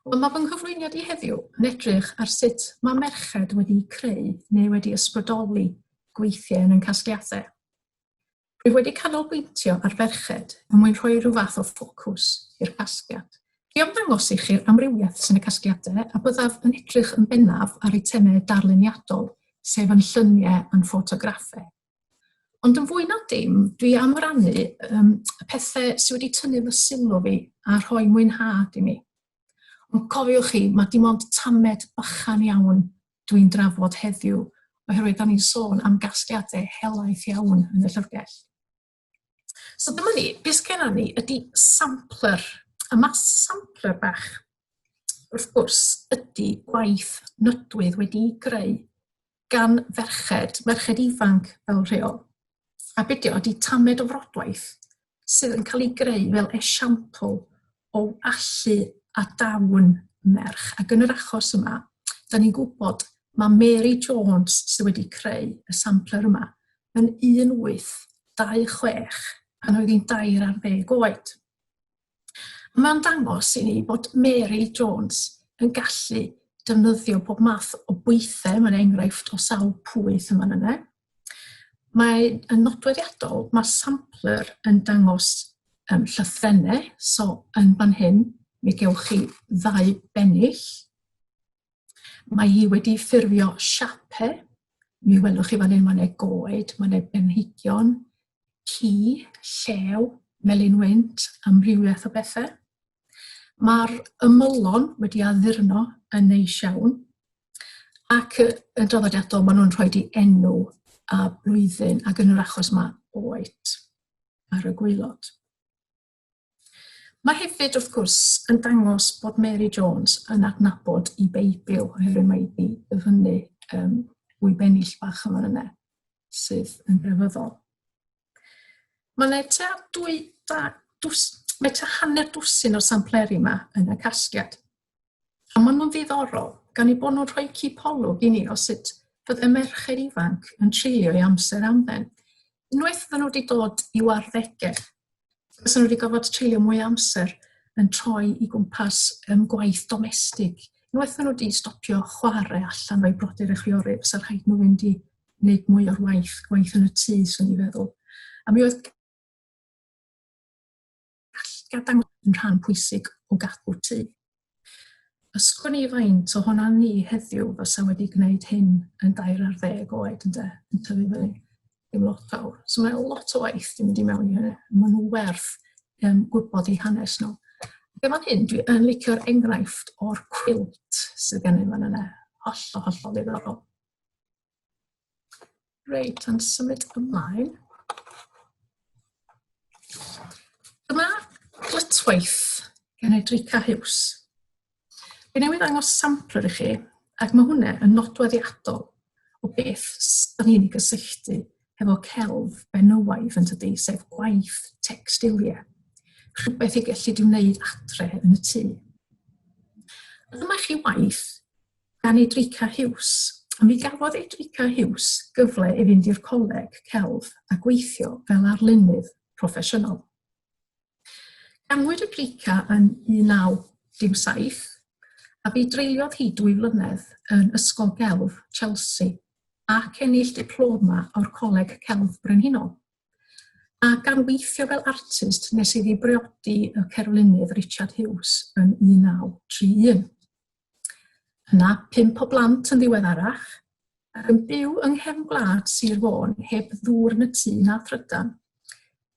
Ond mae fy nghyflwyniad i heddiw yn edrych ar sut mae merched wedi creu neu wedi ysbrydoli gweithiau yn ein casgliadau. Rwyf wedi canolbwyntio ar ferched yn mwyn rhoi rhyw fath o ffocws i'r casgliad. I ymddangos i chi'r amrywiaeth sy'n y casgliadau a byddaf yn edrych yn bennaf ar eitemau darluniadol, sef yn lluniau a'n ffotograffau. Ond yn fwy na dim, dwi am rannu um, y pethau sydd wedi tynnu fy sylw fi a rhoi mwynhad i mi. Ond cofiwch chi, mae dim ond tamed bychan iawn dwi'n drafod heddiw, oherwydd da ni'n sôn am gasgliadau helaeth iawn yn y llyfrgell. So dyma ni, beth gennym ni ydy sampler. A mae sampler bach, wrth gwrs, ydy gwaith nydwydd wedi'i greu gan ferched, merched ifanc fel rheol. A be dio, ydy tamed o frodwaith sydd yn cael ei greu fel esiampl o allu a dawn merch. Ac yn yr achos yma, da ni'n gwybod mae Mary Jones sydd wedi creu y sampler yma yn 1826 pan oedd hi'n dair ar ddeg oed. Mae'n dangos i ni bod Mary Jones yn gallu defnyddio pob math o bwythau, mae'n enghraifft o sawl pwyth yma yna. Mae yn nodweddiadol, mae sampler yn dangos um, llythrennau, so yn fan hyn, mi gewch chi ddau bennill. Mae hi wedi ffurfio siape. Mi welwch chi fan hyn, mae yna goed, mae yna blanhigion, ci, llew, melyn wynt, amrywiaeth o bethau. Mae'r ymylon wedi addurno yn neis iawn. Ac yn draddodiadol, maen nhw'n rhoi di enw a blwyddyn, ac yn yr achos mae oed ar y gweilod. Mae hefyd, wrth gwrs, yn dangos bod Mary Jones yn adnabod i Beibl, oherwydd mae wedi ddyfynnu um, wy bennill bach yma yna, sydd yn grefyddol. Mae yna tua, dwy, da, dws, mae tua hanner dwsin o sampleri yma yn y casgliad. A maen nhw'n ddiddorol, gan ei bod nhw'n rhoi cipolwg i ni o sut fydde merched ifanc yn treulio ei amser am ben. Unwaith fydden nhw wedi dod i warddegau, fydden nhw wedi gofod treulio mwy amser yn troi i gwmpas um, gwaith domestig. Unwaith fydden nhw wedi stopio chwarae allan o'i brodyr a chwiorydd, fysa rhaid nhw fynd i wneud mwy o'r waith, gwaith yn y tŷ, swn i'n feddwl. A mi oedd Casgliad dangos yn rhan pwysig o gadw tŷ. Ysgwn i faint o honna ni heddiw fysa wedi gwneud hyn yn dair ar ddeg oed ynde, yn tyfu fyny. Dim lot fawr. So mae lot o waith yn mynd i mewn i hynny. Mae nhw werth um, gwybod eu hanes nhw. Ac efo'n hyn, dwi yn licio'r enghraifft o'r cwilt sydd gennym yn yna. Hollol, hollol ddiddorol. Reit, yn symud ymlaen. Dyma glytwaith gan Edrica Hughes. Fe newydd ddangos sampler i chi, ac mae hwnna yn nodweddiadol o beth sy'n ni'n gysylltu hefo celf benywaidd yn tydi, sef gwaith textiliau, rhywbeth i gallu di wneud adre yn y tŷ. Dyma chi waith gan Edrica Hughes. Mi gafodd Edrica Hughes gyfle i fynd i'r coleg celf a gweithio fel arlunydd proffesiynol. Ganwyd Edrica yn 1917 a bu dreuliodd hi dwy flynedd yn Ysgol Gelf Chelsea ac ennill diploma o'r Coleg Celf Brenhinol. A gan weithio fel artist nes iddi briodi y cerflunydd Richard Hughes yn 1931. Yna, pump o blant yn ddiweddarach, ac yn byw yng nghefn gwlad Sir Fôn heb ddŵr yn y tŷ na thrydan.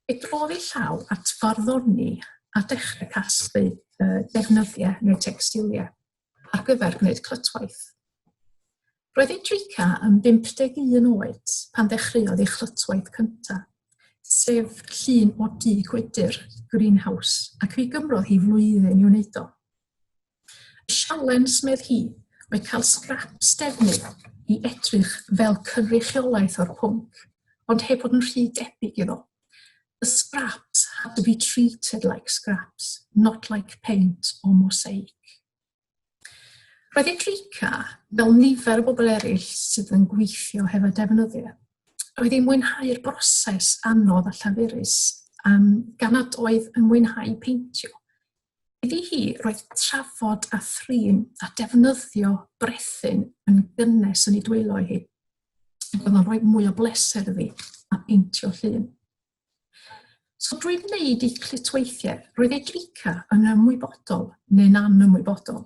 Fe drodd ei llaw at farddoni a dechrau casglu uh, defnyddiau neu textiliau ar gyfer gwneud clytwaith. Roedd ei drica yn 51 oed pan ddechreuodd ei chlytwaith cyntaf, sef llun o du gwydr, greenhouse, ac fe gymrodd hi flwyddyn i wneud o. Y sialens, medd hi, oedd cael sgraps defnydd i edrych fel cynrychiolaeth o'r pwnc, ond heb fod yn rhy debyg iddo. The scraps had to be treated like scraps, not like paint or mosaic. Roedd Enrica, fel nifer o bobl eraill sydd yn gweithio hefo defnyddio, oedd hi'n mwynhau'r broses anodd a llafurus um, gan nad oedd yn mwynhau peintio. Iddi hi, roedd trafod a thrin a defnyddio brethyn yn gynnes yn ei dwylo hi. Ac oedd o'n rhoi mwy o bleser iddi a peintio llun. So drwy wneud ei clitweithiau, roedd ei drica yn ymwybodol neu'n anymwybodol,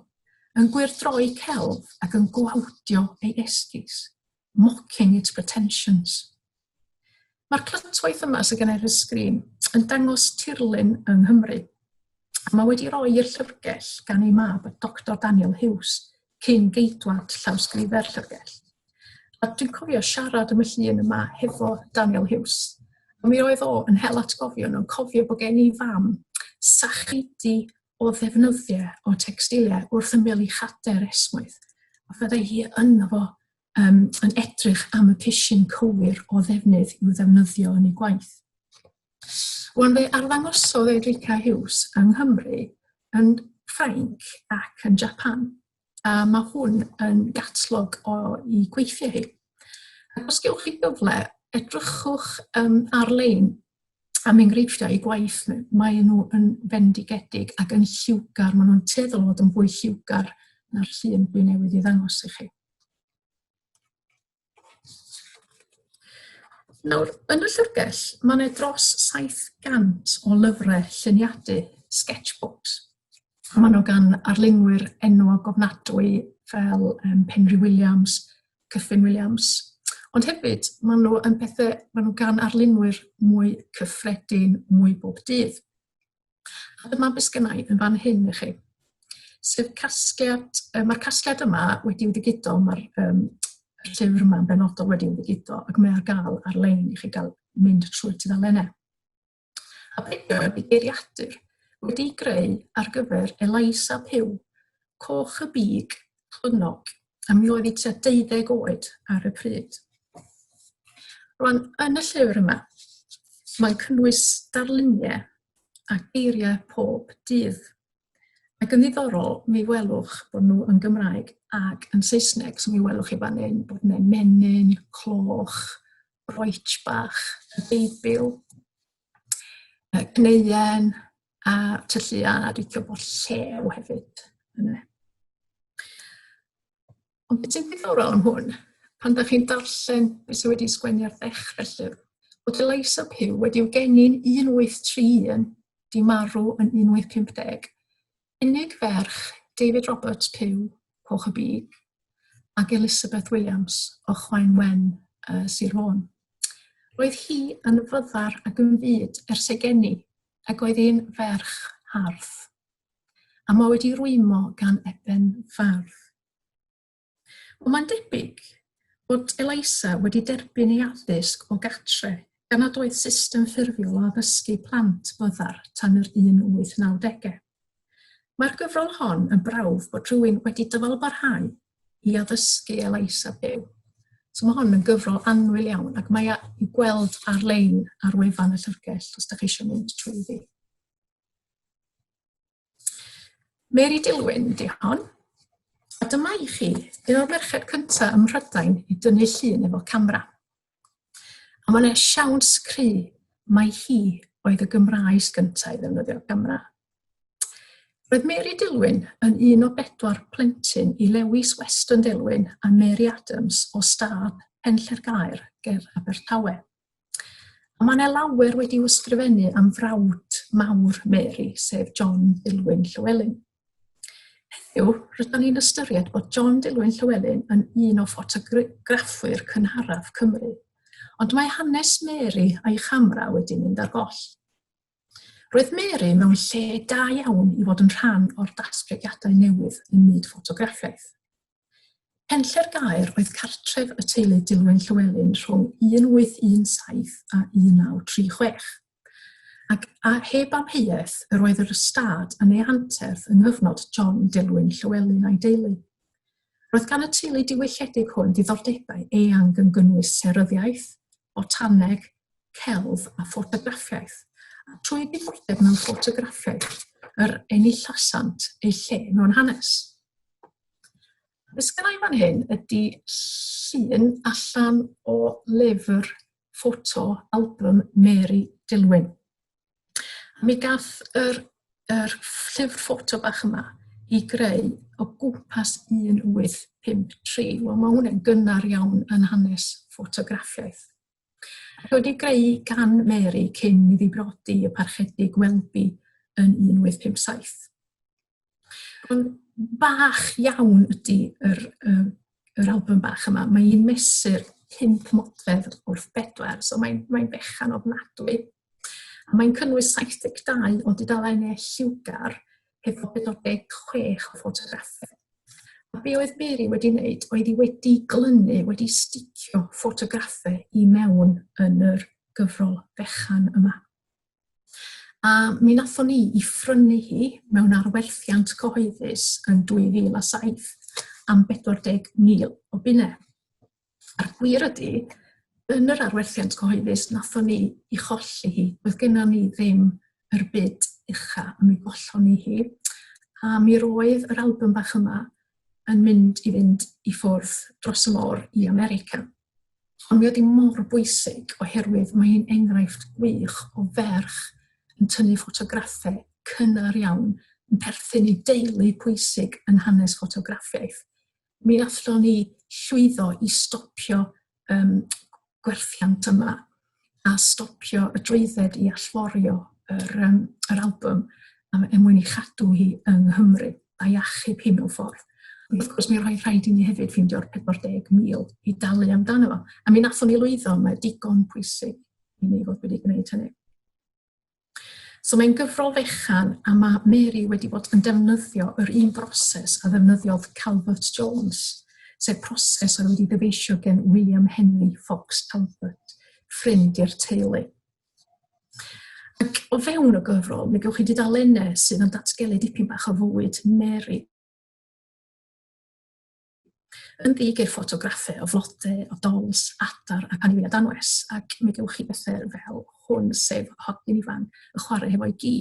yn gwyrdroi celf ac yn gwawdio ei esgus. mocking its pretensions. Mae'r clytwaith yma sydd gen i ar y sgrin yn dangos tirlun yng Nghymru. A mae wedi roi i'r llyfrgell gan ei mab, Dr Daniel Hughes, cyn geidwad llawsgrifer llyfrgell. A dwi'n cofio siarad am y llun yma hefo Daniel Hughes. A mi oedd o yn hel atgofion o'n cofio bod gen i fam sacheidi o ddefnyddiau o textiliau wrth ymwneud i chader esmwyth. A fyddai hi yno fo um, yn edrych am y pisyn cywir o ddefnydd i'w ddefnyddio yn ei gwaith. Wan fe arddangosodd Edrica Hughes yng Nghymru, yn Ffrainc ac yn Japan. a mae hwn yn gatlog o'i gweithiau hi. Ac os gewch chi gyfle, edrychwch um, ar-lein am enghreifftiau i gwaith nhw. Mae nhw yn fendigedig ac yn lliwgar, maen nhw'n teddol fod yn fwy lliwgar na'r llun dwi newydd i ddangos i chi. Nawr, yn y llyfrgell, mae yna dros 700 o lyfrau lluniadu, sketchbooks. A maen nhw gan arlunwyr enwog gofnadwy fel um, Penry Williams, Cyffin Williams. Ond hefyd, maen nhw yn pethau, maen nhw gan arlunwyr mwy cyffredin, mwy bob dydd. A dyma beth sgynnau yn fan hyn i chi. Sef casgliad, uh, mae'r casgliad yma wedi'i ddigido, mae'r um, llyfr yma yn benodol wedi'i ddigido, ac mae ar gael ar-lein i chi gael mynd trwy tudalennau. A beth oedd y geiriadur wedi'i greu ar gyfer Eliza Pugh, coch y big, chlynnog, a mi oedd hi tua deuddeg oed ar y pryd. Rwan, yn y llyfr yma, mae'n cynnwys darluniau a geiriau pob dydd. Ac yn ddiddorol, mi welwch bod nhw yn Gymraeg ac yn Saesneg. So mi welwch chi fan hyn bod yna menyn, cloch, roetch bach, y Beibl, uh, gneuen a tyllu a rithio bod llew hefyd. Yna. Ond beth sy'n ddiddorol am hwn, pan da chi'n darllen beth sydd wedi sgwennu ar ddechrau llyfr, bod Eliza Pugh wedi'w geni'n 1831, di marw yn 1850, Unig ferch, David Roberts, Pyw, Coch y Bug, ac Elizabeth Williams o Chwaen Wen, uh, Sir Fôn. Roedd hi yn fyddar ac yn fyd ers ei geni, ac oedd hi'n ferch hardd. A mae wedi rwymo gan eben fardd. Wel, mae'n debyg bod Elisa wedi derbyn ei addysg o gatre, gan nad oedd system ffurfiol o addysgu plant byddar tan yr 1890au. Mae'r gyfrol hon yn brawf bod rhywun wedi dyfalbarhau i addysgu Elisa byw. So mae hon yn gyfrol annwyl iawn ac mae i'w gweld ar-lein ar wefan y llyfrgell os da chi eisiau mynd trwy ddi. Mary Dilwyn ydy hon. A dyma i chi, un o'r merched cyntaf ym Mhrydain i dynnu llun efo camera. A mae'n eich siawns cry, mae hi oedd y Gymraes gyntaf i ddefnyddio camera. Roedd Mary Dilwyn yn un o bedwar plentyn i Lewis Weston Dilwyn a Mary Adams o Stad Penllergaer ger Abertawe. A mae yna lawer wedi ysgrifennu am frawd mawr Mary, sef John Dilwyn Llywelyn. Heddiw, rydyn ni'n ystyried bod John Dilwyn Llywelyn yn un o ffotograffwyr cynharaf Cymru. Ond mae hanes Mary a'i chamera wedi mynd ar goll. Roedd Mary mewn lle da iawn i fod yn rhan o'r datblygiadau newydd ym myd ffotograffiaeth. Penlle'r Gaer oedd cartref y teulu Dillwyn Llywelyn rhwng 1817 a 1936, ac a heb amheuaeth yr oedd yr ystâd yn ei anterth yng nghyfnod John Dillwyn Llywelyn a'i deulu. Roedd gan y teulu diwylledig hwn ddiddordebau eang yn gynnwys seryddiaeth, botaneg, celf a ffotograffiaeth, a trwy ddiddordeb mewn ffotograffiaeth yr enillasant eu lle mewn hanes. Beth sgynnau fan hyn ydy llun allan o lyfr ffoto album Mary Dilwyn. Mi gath yr, yr llyfr ffoto bach yma i greu o gwmpas 1853. Wel, mae hwnna'n gynnar iawn yn hanes ffotograffiaeth. Ac wedi greu gan Mary cyn iddi brodi y parchedig Welby yn 1857. Ond bach iawn ydy yr, um, yr album bach yma. Mae hi'n mesur 5 modfedd wrth bedwar, so mae'n mae fechan ofnadwy. A mae'n cynnwys 72 o dudalen neu lliwgar hefo 46 o ffotograffau. A be oedd Mary wedi wneud oedd hi wedi glynu, wedi sticio ffotograffau i mewn yn yr gyfrol fechan yma. A mi wnaethon ni i ffrynu hi mewn arwerthiant cyhoeddus yn 2007 am 40,000 o bunne. A'r gwir ydy, yn yr arwerthiant cyhoeddus wnaethon ni i cholli hi. Oedd gennym ni ddim yr byd ucha a mi gollon ni hi. A mi roedd yr album bach yma yn mynd i fynd i ffwrdd dros y môr i America. Ond mae wedi mor bwysig oherwydd mae hi'n enghraifft gwych o ferch yn tynnu ffotograffau cynnar iawn yn perthyn i deulu pwysig yn hanes ffotograffiaeth. Mi allwn ni llwyddo i stopio um, gwerthiant yma. a stopio y drwydded i allforio yr, um, yr album am er mwyn i chadw hi yng Nghymru a'i achub hi mewn ffordd. Ond wrth gwrs, mi roedd rhaid i ni hefyd ffeindio'r 40,000 i dalu amdano fo. A mi nathon ni lwyddo, mae digon pwysig i ni fod wedi gwneud hynny. So mae'n gyfrol fechan a mae Mary wedi bod yn defnyddio yr un broses a ddefnyddiodd Calvert Jones, sef proses oedd wedi dyfeisio gen William Henry Fox Calvert, ffrind i'r teulu. Ac o fewn y gyfrol, mi gewch chi dudalennau sydd yn datgelu dipyn bach o fywyd Mary. Yn ddig i'r ffotograffau o flodau, o dols, adar ac anifeiliaid anwes, ac mi gewch chi bethau fel hwn, sef hogyn ifan yn chwarae hefo'i gi.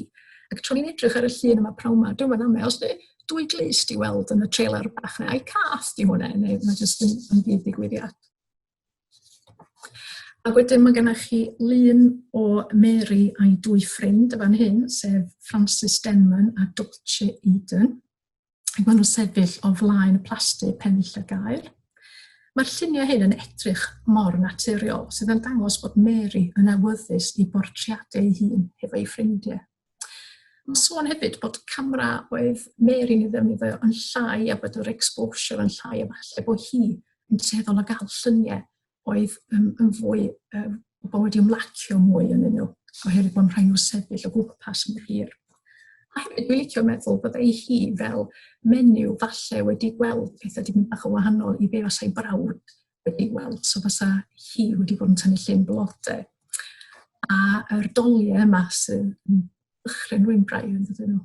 Ac tro ni'n edrych ar y llun yma prawn yma, dwi'n meddwl amau, os dwi, dwy glust i weld yn y trailer bach na, a'i cath di hwnna, neu mae jyst yn, yn ddig digwyddiad. Ac wedyn mae gennych chi lun o Mary a'i dwy ffrind y fan hyn, sef Francis Denman a Dolce Eden. ac maen nhw'n sefyll o flaen y plasty pennill y gair. Mae'r lluniau hyn yn edrych mor naturiol, sydd yn dangos bod Mary yn awyddus i bortreadu ei hun hefo ei ffrindiau. Mae'n sôn hefyd bod camera oedd Mary yn ei ddefnyddio yn llai a bod yr exposure yn llai a falle bod hi yn tueddol o gael lluniau oedd yn, yn fwy, um, pobl wedi ymlacio mwy yn nhw, oherwydd bod rhaid nhw sefyll o gwmpas mor hir. A hefyd, dwi'n licio meddwl bod ei hi fel menyw falle wedi gweld pethau wedi mynd bach o wahanol i be fasai brawd wedi gweld. So fasa hi wedi bod yn tynnu llun blodau. A yr doliau yma sy'n dychryn rwy'n braidd yn dydyn nhw.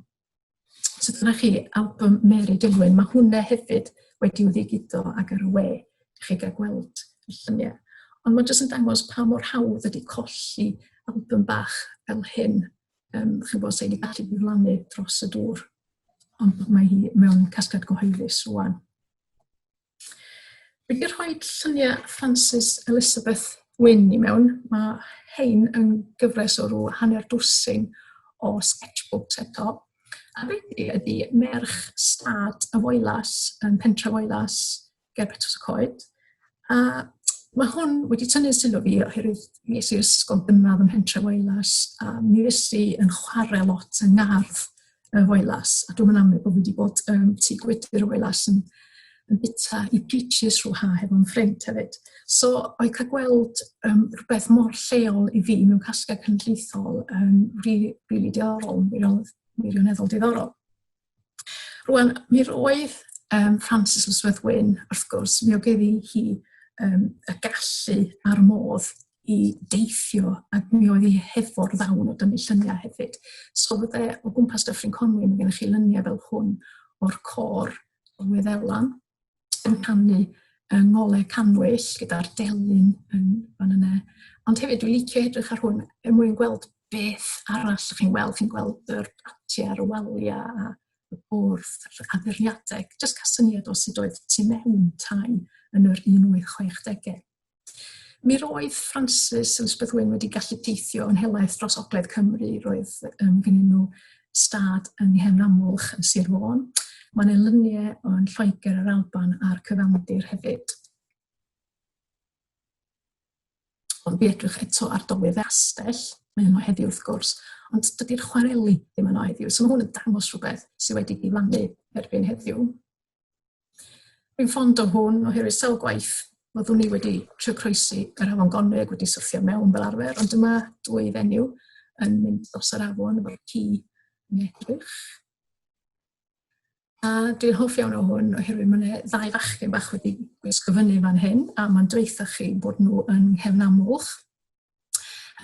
So dyna chi album Mary Dillwyn. Mae hwnna hefyd wedi ddigito ag ar y we. Ydych chi gael gweld y lluniau. Ond mae'n jyst yn dangos pa mor hawdd ydy colli album bach fel hyn. Um, chi'n gwybod, sy'n ei gallu diflannu dros y dŵr. Ond mae hi mewn casgliad cyhoeddus rwan. Wedi rhoi lluniau Frances Elizabeth Wyn i mewn, mae hein yn gyfres o rhyw hanner dwsin o sketchbooks eto. A beth ydy, ydy merch stad y Foelas yn pentre Foelas ger Betws y Coed. A mae hwn wedi tynnu sylw fi oherwydd mi es i i'r ysgol gynradd ym Mhentre Foelas a mi fues i yn chwarae lot yng ngardd y Wailas, a dwi'n amlwg bod fi wedi bod um, tu gwydr y Wailas yn, yn bita i peaches rhyw ha hefo'n ffrind hefyd. So, oedd cael gweld um, rhywbeth mor lleol i fi mewn casgau cynllithol yn um, rili, really, diddorol, wirioneddol diddorol. Rwan, mi roedd um, Frances Lysworth Wyn, wrth gwrs, mi oedd hi um, y gallu a'r modd i deithio ac mi oedd hi hefo'r ddawn o dynnu lluniau hefyd. So fydde o gwmpas Dyffryn Conwy, mae gennych chi lyniau fel hwn o'r cor o Wyddelan yn canu yng ngolau canwyll gyda'r delyn yn fan yna. Ond hefyd, dwi'n licio edrych ar hwn er mwyn gweld beth arall chi'n gweld. Chi'n gweld yr ati ar y waliau a y bwrdd, addurniadau. Just cael syniad o sut oedd tu mewn tai yn yr 1860au. Mi roedd Francis Elizabeth Wyn wedi gallu teithio yn helaeth dros Ogledd Cymru. Roedd um, gynnyn nhw stad yng Nghefn Amwlch yn Sir Fôn. Mae'n elyniau o'n Lloegr, yr Alban a'r Cyfandir hefyd. Ond fi edrych eto ar dolydd astell, mae yno heddiw wrth gwrs, ond dydy'r chwareli ddim yno heddiw. So mae hwn yn dangos rhywbeth sydd wedi diflannu erbyn heddiw. Rwy'n fond o hwn oherwydd sawl gwaith fyddwn ni wedi trio croesi yr afon Gonwy ac wedi syrthio mewn fel arfer, ond dyma dwy fenyw yn mynd dros yr afon efo ci yn edrych. A dwi'n hoff iawn o hwn oherwydd mae yna ddau fachgen bach wedi gwisgo fyny fan hyn a mae'n dweitha chi bod nhw yn nghefn amlwch.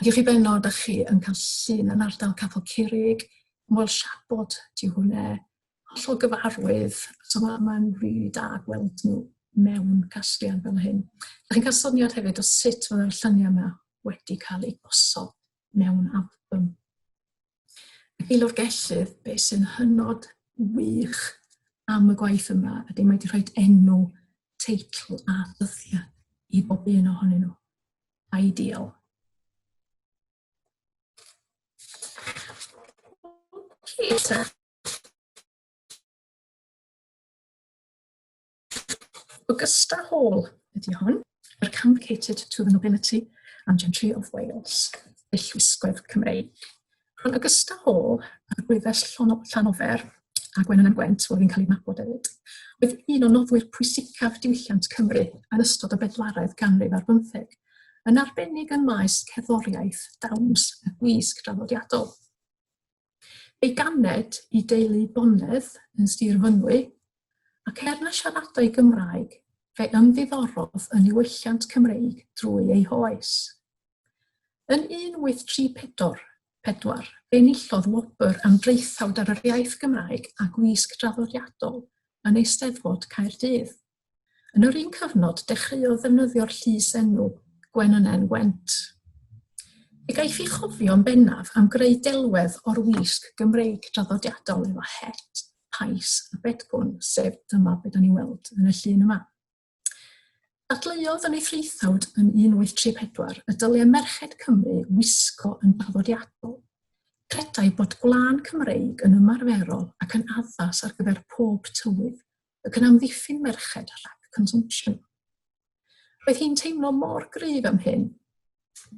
Ac i chi benno, da chi yn cael llun yn ardal Capel Curig, Moel Siabod, ti hwnna, hollol gyfarwydd, so mae'n ma rili da gweld nhw mewn casgliad fel hyn. Da chi'n cael syniad hefyd o sut mae'r lluniau yma wedi cael eu gosod mewn album. Ac i lofgellydd, be sy'n hynod wych am y gwaith yma ydy mae wedi rhoi enw, teitl a ddyddiau i bob un ohonyn nhw. Ideal. Okay, Augusta Hall ydy hwn, yr Convocated to the Nobility and Gentry of Wales, y llwisgoedd Cymreig. Rhwng Augusta Hall a Rwyfell Llanofer a Gwenan am Gwent, oedd yn cael ei nabod hefyd, oedd un o noddwyr pwysicaf diwylliant Cymru yn ystod y bedwaredd ganrif ar bymtheg, yn arbennig yn maes cerddoriaeth, dawns a gwisg draddodiadol. Ei ganed i deulu Bonedd yn Sir Fynwy, ac er na siaradai Gymraeg, fe ymddiddorodd yn niwylliant Cymreig drwy ei hoes. Yn 1834, fe enillodd wobr am draethawd ar yr iaith Gymraeg a gwisg draddodiadol yn Eisteddfod Caerdydd. Yn yr un cyfnod, dechreuodd ddefnyddio'r llys-enw Gwenynen Went. Fe gaiff ei chofio yn bennaf am greu delwedd o'r wisg Gymreig draddodiadol efo het, pais a bedgwn, sef dyma be da ni'n weld yn y llun yma. Dadleuodd yn ei threithawd yn 1834 y dyliau merched Cymru wisgo yn draddodiadol. Credai bod gwlân Cymreig yn ymarferol ac yn addas ar gyfer pob tywydd, ac yn amddiffyn merched rhag consumption. Roedd hi'n teimlo mor gryf am hyn,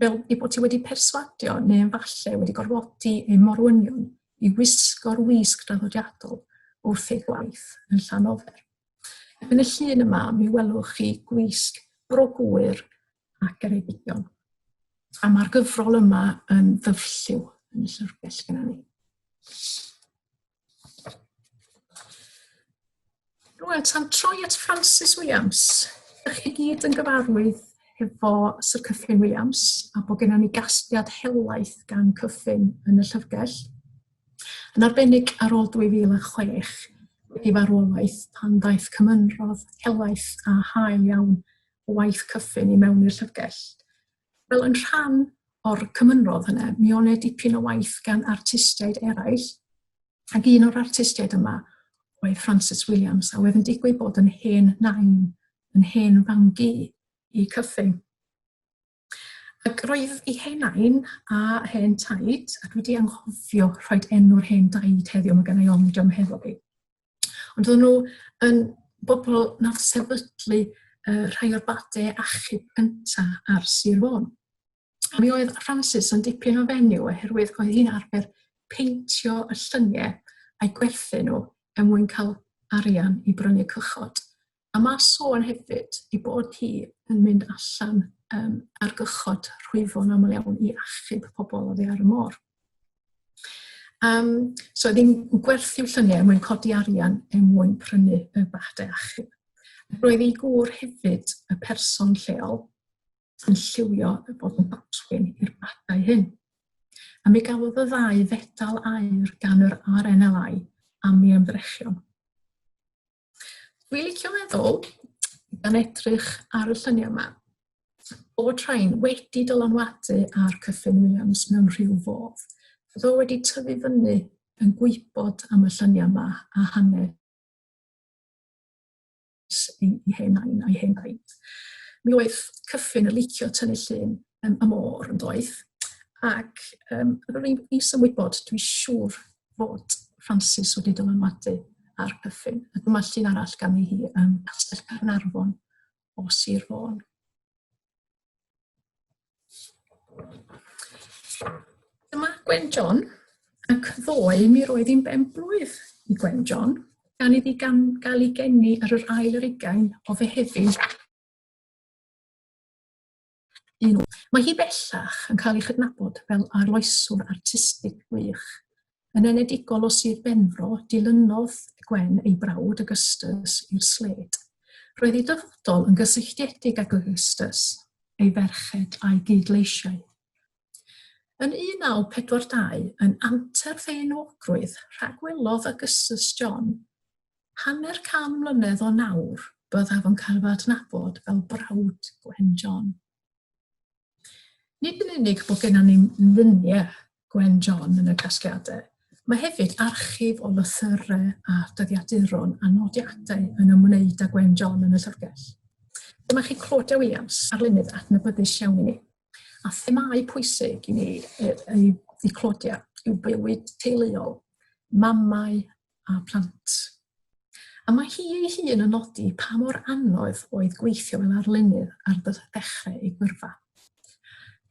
fel ei bod ti wedi perswadio neu falle wedi gorfodi ei morwynion i wisgo'r wisg draddodiadol wrth ei gwaith yn Llanofer. Yn y llun yma, mi welwch chi gwisg bro gwyr ac ereidigion. A mae'r gyfrol yma yn ddyfrlliw yn y llyfrgell gyda ni. Rwan, tan troi at Francis Williams. Ydych chi gyd yn gyfarwydd hefo Sir Cyffin Williams a bod gennym ni gasgliad helaeth gan Cyffin yn y llyfrgell. Yn arbennig ar ôl 2006, wedi farwolaeth pan ddaeth cymynrodd helaeth a hael iawn o waith Cyffin i mewn i'r llyfrgell. Wel, yn rhan o'r cymynrodd hynny, mi o'n e dipyn o waith gan artistiaid eraill, ac un o'r artistiaid yma oedd Francis Williams, a oedd yn digwydd bod yn hen nain, yn hen fangi i Cyffin. Ac roedd ei hen nain a hen taid, a dwi wedi anghofio rhoi enw'r hen daid heddiw, mae gen i ond am hefo fi. Ond o'n nhw yn bobl nath sefydlu uh, rhai o'r badau achub gyntaf ar Sir Fôn. A mi oedd Francis yn dipyn o fenyw oherwydd oedd hi'n arfer peintio y llyniau a'i gwerthu nhw er mwyn cael arian i brynu cychod. A mae sôn hefyd i bod hi yn mynd allan um, ar gychod rhwyfo'n aml iawn i achub pobl oddi ar y môr. Um, so ddim gwerthu llynau er mwyn codi arian er mwyn prynu y badau achub. Roedd ei gŵr hefyd y person lleol yn lliwio y bod yn batwyn i'r badau hyn. A mi gafodd y ddau fedal air gan yr RNLI am ei ymdrechion. Dwi'n licio meddwl, gan edrych ar y lluniau yma, bod rhain wedi dylanwadu ar Cyffin Williams mewn rhyw fodd. Fyddo wedi tyfu fyny yn gwybod am y lluniau yma a hanes ei, ei hen ain a'i hen ain. Mi oedd Cyffin yn licio tynnu llun um, y môr yn doedd. Ac um, yr un i symwybod, dwi'n siŵr fod Francis wedi dylanwadu ar Cyffin. A dyma llun arall gan hi um, Castell Carnarfon o Sir Fôn. Dyma Gwen John, ac ddoe mi roedd hi'n ben blwydd i Gwen John, gan iddi gan gael ei geni ar yr ail yr ugain o fehefin un. Mae hi bellach yn cael ei chydnabod fel arloeswr artistig gwych. Yn enedigol o Sir Benfro, dilynodd Gwen ei brawd Augustus i'r sled. Roedd ei dyfodol yn gysylltiedig ag Augustus, ei ferched a'i gyd-leisiau. Yn 1942, yn anterth ei enwogrwydd, rhagwelodd Augustus John, Hanner can mlynedd o nawr, byddaf yn cael fy adnabod fel brawd Gwen John. Nid yn unig bod gennym ni luniau Gwen John yn y casgliadau, mae hefyd archif o lythyrau a dyddiaduron a nodiadau yn ymwneud â Gwen John yn y llyfrgell. Dyma chi Claudia Williams, arlunydd adnabyddus iawn i ni. A themâu pwysig i ni ei ddiclodio yw bywyd teuluol, mamau a plant. A mae hi ei hun yn nodi pa mor anodd oedd gweithio fel arlunydd ar ddechrau ei gyrfa.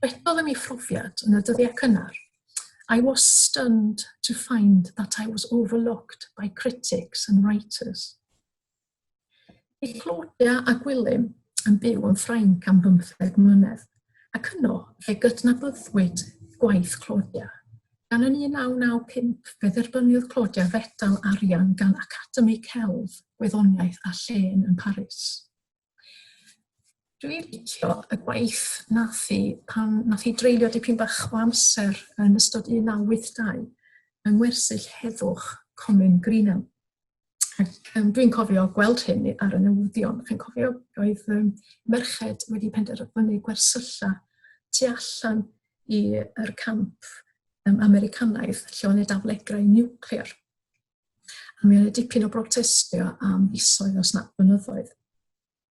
Rhedodd yn ei phrofiad yn y dyddiau cynnar, I was stunned to find that I was overlooked by critics and writers. Bydd Claudia a Gwilym yn byw yn Ffrainc am bymtheg mlynedd, ac yno fe gydnabyddwyd gwaith Claudia. Gan yn 1995 fe dderbyniodd Claudia fedal arian gan Academi Celf, Gwyddoniaeth a Llên yn Paris. Dwi'n licio y gwaith nath hi pan nath hi dreulio dipyn bach o amser yn ystod 1982 yng ngwersyll heddwch Comin Greenham. Yym, dwi'n cofio gweld hyn ar y newyddion. Chi'n cofio, roedd um, merched wedi penderfynu gwersylla tu allan i'r camp um, Americanaidd lle o'n y daflegrau niwclear. A mi oedd dipyn o brotestio am fisoedd os na blynyddoedd.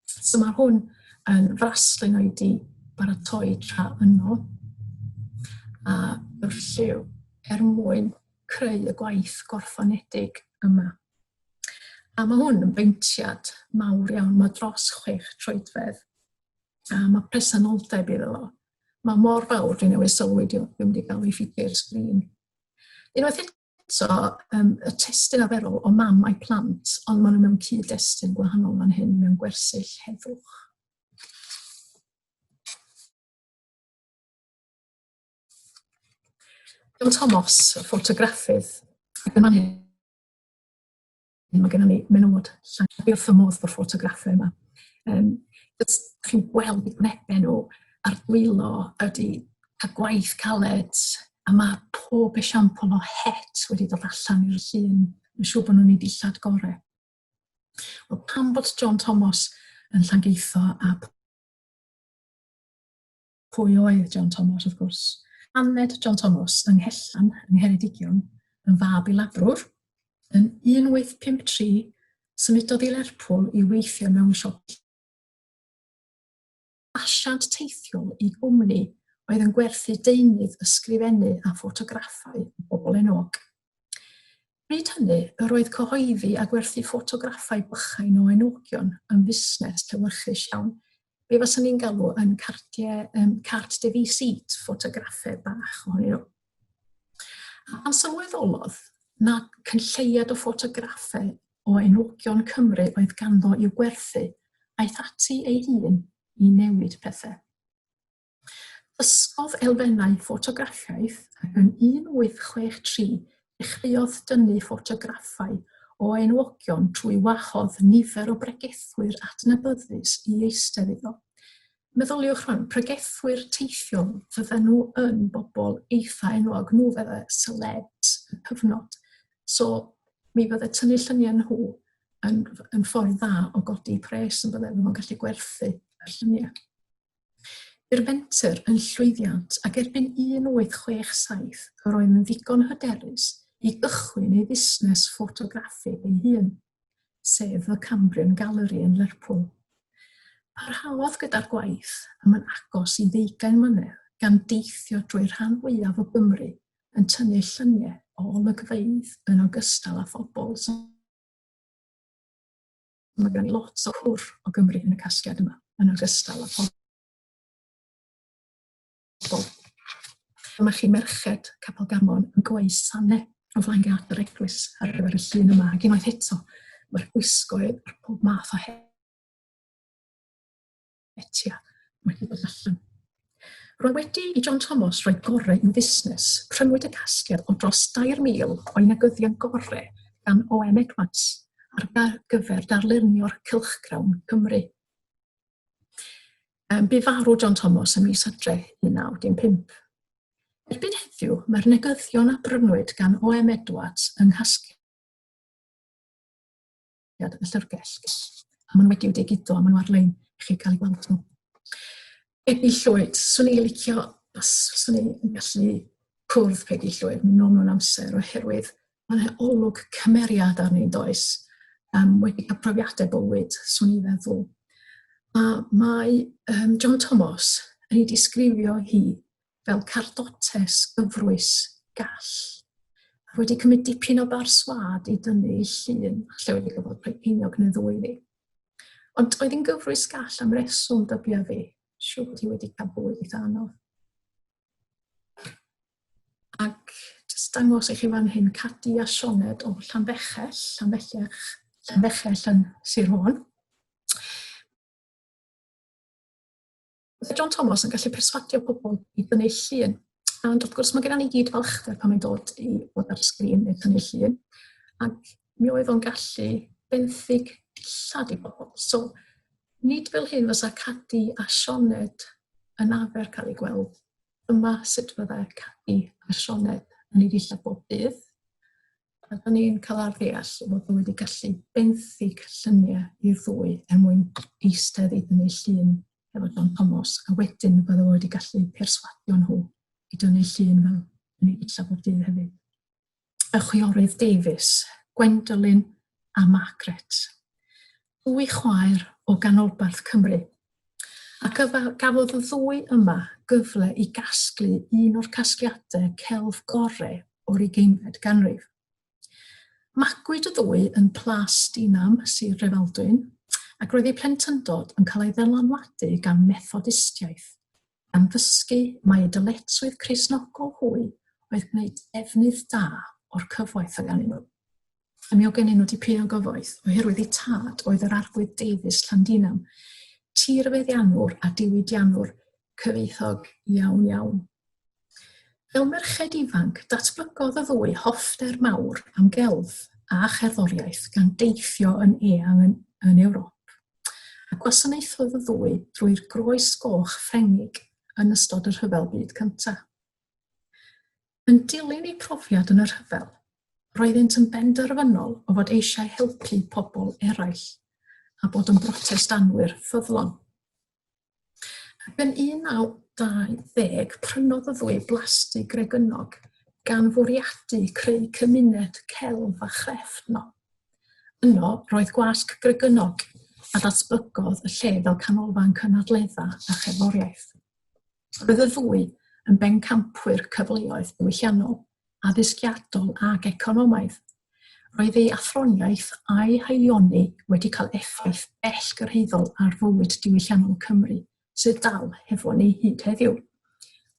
So mae hwn yn fraslun o'i di baratoi tra yno a yw'r lliw er mwyn creu y gwaith gorffenedig yma. A mae hwn yn beintiad mawr iawn, mae dros chwech troedfedd. A mae presenoldeb iddo fo. Mae mor fawr, dwi'n newid sylwi, dwi'n wedi cael ei ffidio i'r sgrin. Unwaith eto, So, um, y testyn aferol o mam a'i plant, ond maen nhw mewn cyd-destun gwahanol fan hyn, mewn gwersyll heddwch. John Thomas, y ffotograffydd, ac yn fan hyn Mae gennym ni menywod llai na beth o modd o'r ffotograffau yma. Um, Ydych chi'n gweld y gwnebu nhw a'r dwylo ydy cael gwaith caled a mae pob esiampl o het wedi dod allan i'r llun. Mae'n siŵr bod nhw'n ei dillad gorau. Wel, pam bod John Thomas yn Llangeitho a Pwy oedd John Thomas, wrth gwrs? Aned John Thomas yng Nghellan, yng Ngheredigion, yn fab i labrwr. Yn 1853, symudodd i Lerpwl i weithio mewn siop asiant teithiol i gwmni oedd yn gwerthu deunydd ysgrifennu a ffotograffau o bobl enwog. Bryd hynny, yr oedd cyhoeddi a gwerthu ffotograffau bychain o enwogion yn fusnes llewyrchus iawn, be faswn ni'n galw yn cardiau, um, cart de visite, ffotograffau bach ohonyn nhw. A pan sylweddolodd na cynlleiad o ffotograffau o enwogion Cymru oedd ganddo i'w gwerthu, aeth ati ei hun i newid pethau. Dysgodd elfennau ffotograffiaeth ac yn 1863 dechreuodd dynnu ffotograffau o enwogion trwy wahodd nifer o bregethwyr adnabyddus i eistedd iddo. Meddyliwch rwan, pregethwyr teithiol, fydden nhw yn bobl eitha enwog, nhw fydde celebs y cyfnod. So, mi fydde tynnu lluniau nhw yn, yn ffordd dda o godi pres yn bydde, fydde nhw'n gallu gwerthu y lluniau. Bu'r fenter yn llwyddiant ac erbyn 1867 yr oedd yn ddigon hyderus i gychwyn ei fusnes ffotograffig ei hun, sef The Cambrian Gallery yn Lerpwl. Parhaodd gyda'r gwaith am yn agos i ddeugain mlynedd gan deithio drwy'r rhan fwyaf o Gymru yn tynnu lluniau o olygfeydd yn ogystal â phobl sy'n Mae gen i lot o hwr o Gymru yn y casgliad yma, yn ogystal â phobl Dyma chi merched Capel Gamon yn gweud sane o flaen gad yr eglwys ar gyfer y llun yma. Ac unwaith eto, mae'r gwisgoedd a'r pob math o hyn. Etia, mae wedi bod allan. Roedd wedi i John Thomas roi gorau yn fusnes. Prynwyd y casgliad o dros 2,000 o'i negyddion gorau gan OM Edwards ar gyfer darlunio'r cylchgrawn Cymru. Um, bu farw John Thomas ym mis adre 1915. Erbyn heddiw, mae'r negyddion a brynwyd gan OM Edwards yng nghasgliad y llyfrgell. A maen nhw wedi'w digido, a maen nhw ar-lein i chi cael ei gweld nhw. Peggy Llwyd, swn i'n licio, os swn i'n gallu cwrdd Peggy Llwyd, mynd nôl mewn amser, oherwydd mae'n e olwg cymeriad ar ni'n does, um, wedi cael profiadau bywyd, swn i'n feddwl. A mae um, John Thomas yn ei disgrifio hi fel cardotes gyfrwys gall. Mae wedi cymryd dipyn o bar swad i dynnu i llun, lle wedi gyfod rhoi ceiniog neu ddwy fi. Ond oedd yn gyfrwys gall am reswm dybia fi, siw bod hi wedi cael bwyd eitha anodd. Ac jyst dangos i chi fan hyn cadi a sioned o Llanfechell, Llanfechell, Llanfechell yn Sir Fôn. Byddai John Thomas yn gallu perswadio pobl i dynnu llun. Ond wrth gwrs, mae gennym ni gyd falchder pan mae'n dod i fod ar y sgrin neu tynnu llun. Ac mi oedd o'n gallu benthyg dillad i bobl. So, nid fel hyn fysa Cadi a Sioned yn afer cael ei gweld. Yma sut fyddai Cadi a Sioned yn ei ddillad bob dydd. A da ni'n cael ar ddeall bod nhw wedi gallu benthyg lluniau i'r ddwy er mwyn eistedd i dynnu llun efo John Thomas, a wedyn bydde fo wedi gallu perswadio nhw i dynnu llun fel yn ei dillad o'r dydd hefyd. Y chwiorydd Davies, Gwendolyn a Margaret. Dwy chwaer o ganolbarth Cymru Ac y gafodd y ddwy yma gyfle i gasglu un o'r casgliadau celf gorau o'r ugeinfed ganrif. Magwyd y ddwy yn Plas Dinam, Sir Drefaldwyn, ac roedd eu plentyndod yn cael ei ddylanwadu gan Methodistiaeth, Am ddysgu mai y dyletswydd Cristnogol hwy oedd gwneud defnydd da o'r cyfoeth oedd gennyn nhw. A mi o gennyn nhw dipyn o gyfoeth, oherwydd eu tad oedd yr Arglwydd Davies Llandinam, tirfeddiannwr a diwydiannwr cyfoethog iawn iawn. Fel merched ifanc, datblygodd y ddwy hoffter mawr am gelf a cherddoriaeth gan deithio yn eang yn, yn Ewrop. a gwasanaethodd y ddwy drwy'r Groes Goch Ffrengig yn ystod y Rhyfel Byd Cyntaf. Yn dilyn eu profiad yn y rhyfel, roeddynt yn benderfynol o fod eisiau helpu pobl eraill a bod yn brotestanwyr ffyddlon. Ac yn 1920, prynodd y ddwy blasdy Gregynog gan fwriadu creu cymuned celf a chrefft no. Yno, roedd gwasg Gregynog a datblygodd y lle fel canolfan cynadledda a cherddoriaeth. Roedd y ddwy yn bencampwyr cyfleoedd diwylliannol. addysgiadol ac economaidd. Roedd ei athroniaeth a'i haelioni wedi cael effaith bell gyrhaeddol ar fywyd diwylliannol Cymru, sydd dal hefo ni hyd heddiw.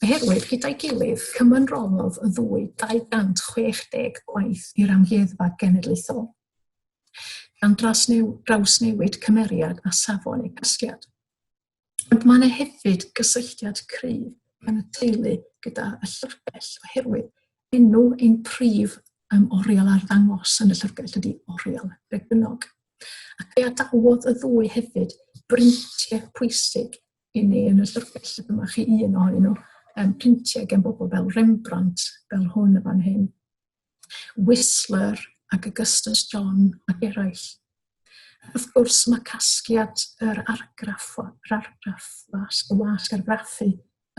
Oherwydd, gyda'i gilydd, cymanroddodd y ddwy 260 gwaith i'r Amgueddfa Genedlaethol, gan drasnew, drawsnewid cymeriad a safon ei gasgliad. Ond mae yna hefyd gysylltiad cryf yn y teulu gyda y llyfrgell oherwydd enw ein prif um, oriel ar ddangos yn y llyfrgell ydy oriel Bregynnog. Ac fe adawodd y ddwy hefyd brintiau pwysig i ni yn y llyfrgell. Dyma chi un ohonyn nhw, um, printiau gen bobl fel Rembrandt, fel hwn y fan hyn, Whistler ac Augustus John ac eraill. Wrth gwrs, mae casgliad yr argraff, yr argraff wasg, y wasg argraffu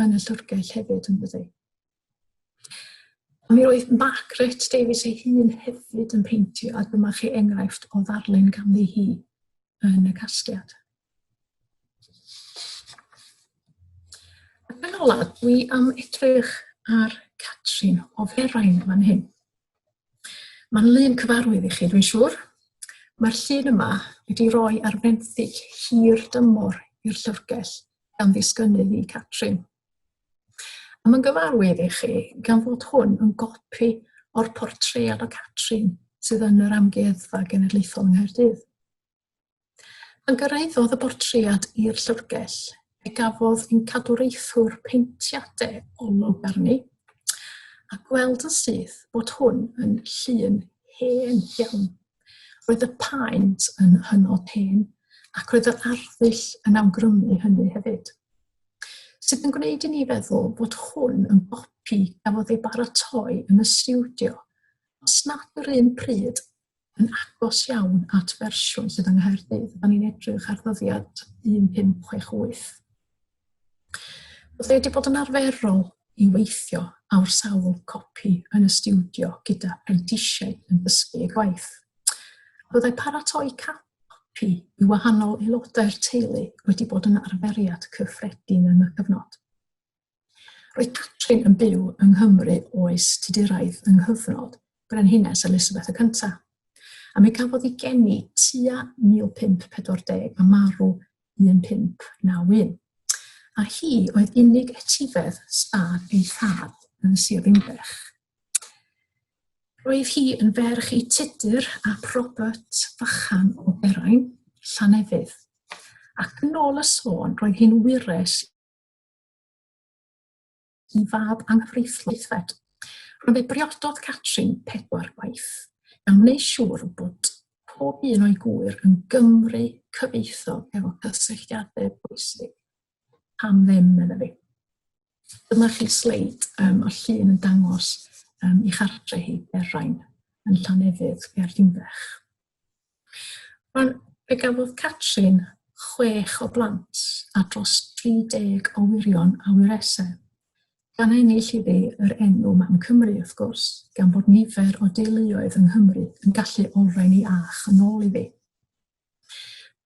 yn y llyfrgell hefyd yn dydi. Mi roedd Margaret Davies ei hun hefyd yn peintio, a dyma chi enghraifft o ddarlun ganddi hi yn y casgliad. Ac yn ola, dwi am edrych ar Catrin o Ferain fan hyn. Mae'n lun cyfarwydd i chi, dwi'n siŵr. Mae'r llun yma wedi rhoi ar fenthyg hir dymor i'r llyfrgell gan ddisgynnu i Catrin. A mae'n gyfarwydd i chi gan fod hwn yn gopi o'r portread o Catrin sydd yn yr Amgueddfa Genedlaethol yng Nghaerdydd. Pan gyrhaeddodd y bortread i'r llyfrgell, fe gafodd ein cadwraethwr peintiadau olwg arni, a gweld yn syth bod hwn yn llun hen iawn. Roedd y paent yn hynod hen, ac roedd yr arddull yn awgrymu hynny hefyd. Sydd yn gwneud i ni feddwl bod hwn yn gopi gafodd ei baratoi yn y stiwdio, os nad yr un pryd, yn agos iawn at fersiwn sydd yng Nghaerdydd. Da ni'n edrych ar ddyddiad 1568. Oedd wedi bod yn arferol i weithio awr sawl copi yn y studio gyda prentisiaid yn dysgu ei gwaith. Byddai paratoi copi i wahanol aelodau'r teulu wedi bod yn arferiad cyffredin yn y cyfnod. Roedd Catrin yn byw yng Nghymru oes Tuduraidd yng nghyfnod Brenhines Elisabeth y Cyntaf, a mi gafodd ei geni tua 1540 a marw 1591. A hi oedd unig etifedd stad ei thad yn Sir Ddinbych. Roedd hi yn ferch i Tudur ap Robert Fachan o Berain, Llanefydd. Ac yn ôl y sôn, roedd hi'n wires i fab anghyfreithlon Eithred. Roedd ei briododd Catrin pedwar gwaith, gan wneud siŵr bod pob un o'i gŵyr yn Gymry cyfeithog efo cysylltiadau bwysig. Pam ddim, medda fi. Dyma chi sleid um, o llun yn dangos um, i chartre hi, Berain, yn Llanefydd, Gaerdimbech. Wel, fe gafodd Catrin chwech o blant a dros 30 o wirion a wyresau. Gan ennill iddi yr enw Mam Cymru, wrth gwrs, gan bod nifer o deuluoedd yng Nghymru yn gallu olrhain ei ach yn ôl iddi.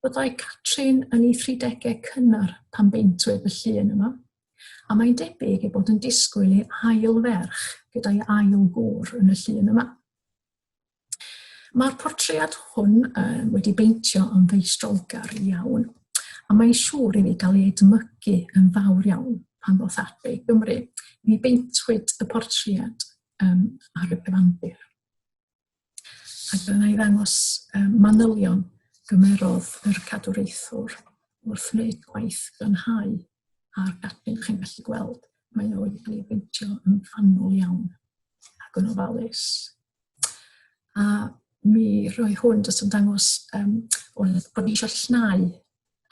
Byddai Catrin yn ei 30au cynnar pan beintwyd y llun yma, a mae'n debyg ei bod yn disgwyl ei ail ferch gyda'i ail gŵr yn y llun yma. Mae'r portread hwn um, wedi beintio yn ddeistrolgar iawn, a mae'n siŵr i ni gael ei edmygu yn fawr iawn pan ddoth ati i Gymru. Mi beintwyd y portread um, ar y cyfandir. Ac dyna i ddangos um, manylion gymerodd yr cadwraethwr wrth wneud gwaith glanhau a'r gadwyn chi'n gallu gweld, mae o wedi cael ei beintio yn fanwl iawn ac yn ofalus. A mi roi hwn jyst yn dangos um, o'n bod ni eisiau llnau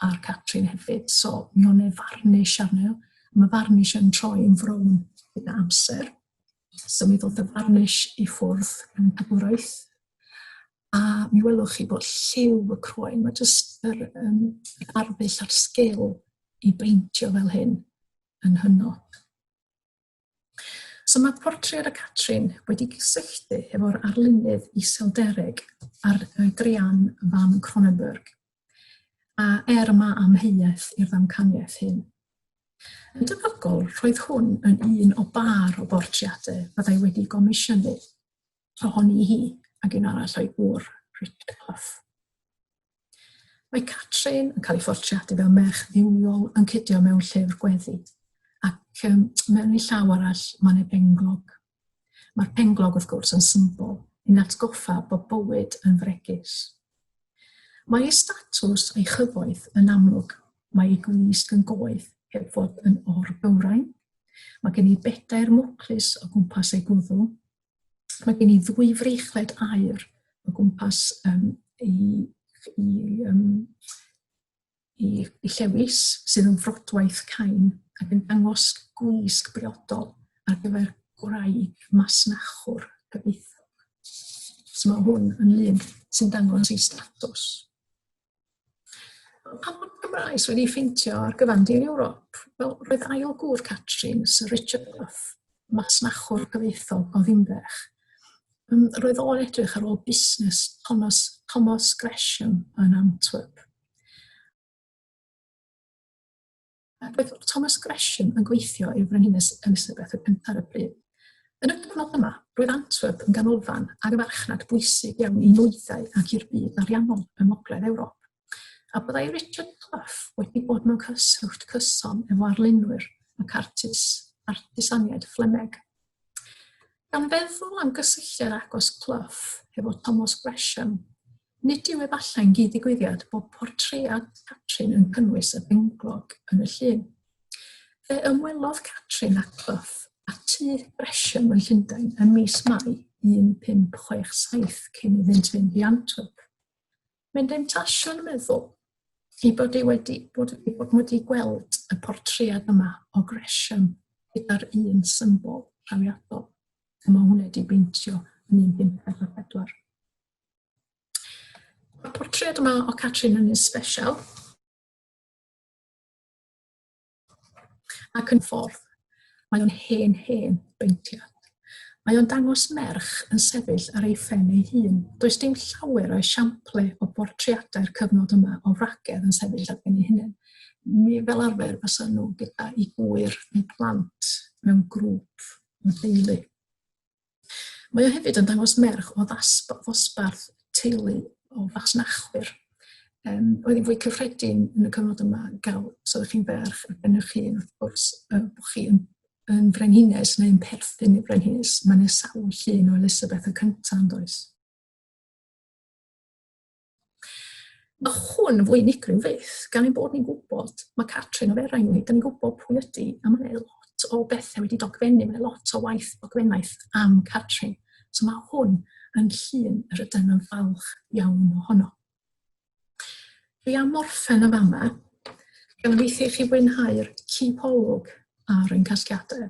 ar Catrin hefyd, so mi o'n e farnish arno, mae farnish yn troi yn frown gyda amser. So mi ddod y farnish i ffwrdd yn y dwraeth. a mi welwch chi bod lliw y croen, mae jyst yr, um, yr arddull a'r sgil i beintio fel hyn yn hynod. So mae portread y Catrin wedi gysylltu efo'r arlunydd iseldereg ar Drian van Cronenberg, a er yma amheuaeth i'r ddamcaniaeth hyn. Yn debygol, roedd hwn yn un o bar o bortreadau byddai wedi gomisiynu ohoni hi ac un arall o'i gŵr, Richard Clough. Mae Catrin yn cael ei ffortiadu fel merch ddiwiol yn cydio mewn llyfr gweddi, ac um, mewn ei llaw arall mae'n ei benglog. Mae'r penglog, wrth gwrs, yn symbol yn atgoffa bod bywyd yn fregus. Mae ei statws a'i chyfoeth yn amlwg. Mae ei gwisg yn goedd, heb fod yn o'r bywrain. Mae gen i bedair mwclus o gwmpas ei gwddw, Mae gen i ddwy freichled air o gwmpas um, i, i, um, i, i llewis sydd yn frodwaith cain ac yn dangos gwisg briodol ar gyfer gwraig masnachwr cyfeithog. So mae hwn yn lun sy'n dangos ei status. Pan bod Gymraes wedi ffeintio ar gyfan di'n Ewrop, wel, roedd ail gŵr Catrin, Sir Richard Bluff, masnachwr cyfeithol o Ddimbech. Um, roedd o'n edrych ar ôl busnes Thomas, Thomas Gresham yn Antwerp. Ac roedd Thomas Gresham yn gweithio i'r Frenhines Elizabeth y Cyntaf ar y pryd. Yn y cyfnod yma, roedd Antwerp yn ganolfan ar y farchnad bwysig iawn i nwyddau ac i'r byd ariannol ym Ngogledd Ewrop. A byddai Richard Clough wedi bod mewn cyswllt cyson efo arlunwyr ac artis, artisaniaid Fflemeg. Gan feddwl am gysylltiad agos Clough hefo Thomas Gresham, Nid yw efallai'n gyd-ddigwyddiad bod portread Catrin yn cynnwys y benglog yn y llun. Fe ymwelodd Catrin â Clough a tŷ Gresham yn Llundain ym mis Mai 1567 cyn iddynt fynd i Antwerp. Mae'n demtasiwn meddwl ei bod ei wedi bod, ei bod wedi gweld y portread yma o Gresham gyda'r un symbol trawiadol y mae hwnna wedi beintio yn 1544. Mae'r portread yma o Catrin yn un sbesial. Ac yn ffordd, mae o'n hen hen beintiad. Mae o'n dangos merch yn sefyll ar ei phen ei hun. Does dim llawer o esiamplau o bortreadau'r cyfnod yma o wragedd yn sefyll ar ben ei hunain. Mi fel arfer fysa nhw gyda i gwyr neu plant mewn grŵp o deulu. Mae o hefyd yn dangos merch o ddosbarth teulu o fasnachwyr. Um, oedd hi'n fwy cyffredin yn y cyfnod yma gael, os oeddech chi'n ferch ar ben eich hun, wrth gwrs, uh, bod chi yn, yn frenhines neu'n perthyn i frenhines. Mae'n nesawu llun o Elisabeth y cyntaf yn does. Mae hwn fwy unigryw fyth, gan ein bod ni'n gwybod, mae Catrin o Ferain ni, dyn ni'n gwybod pwy ydy, a mae lot o bethau wedi dogfennu, mae lot o waith dogfennaeth am Catrin. So mae hwn yn llun yr ydym yn falch iawn ohono. Fi am morffen y fama, gan weithio i chi fwynhau'r cipolwg ar ein casgiadau.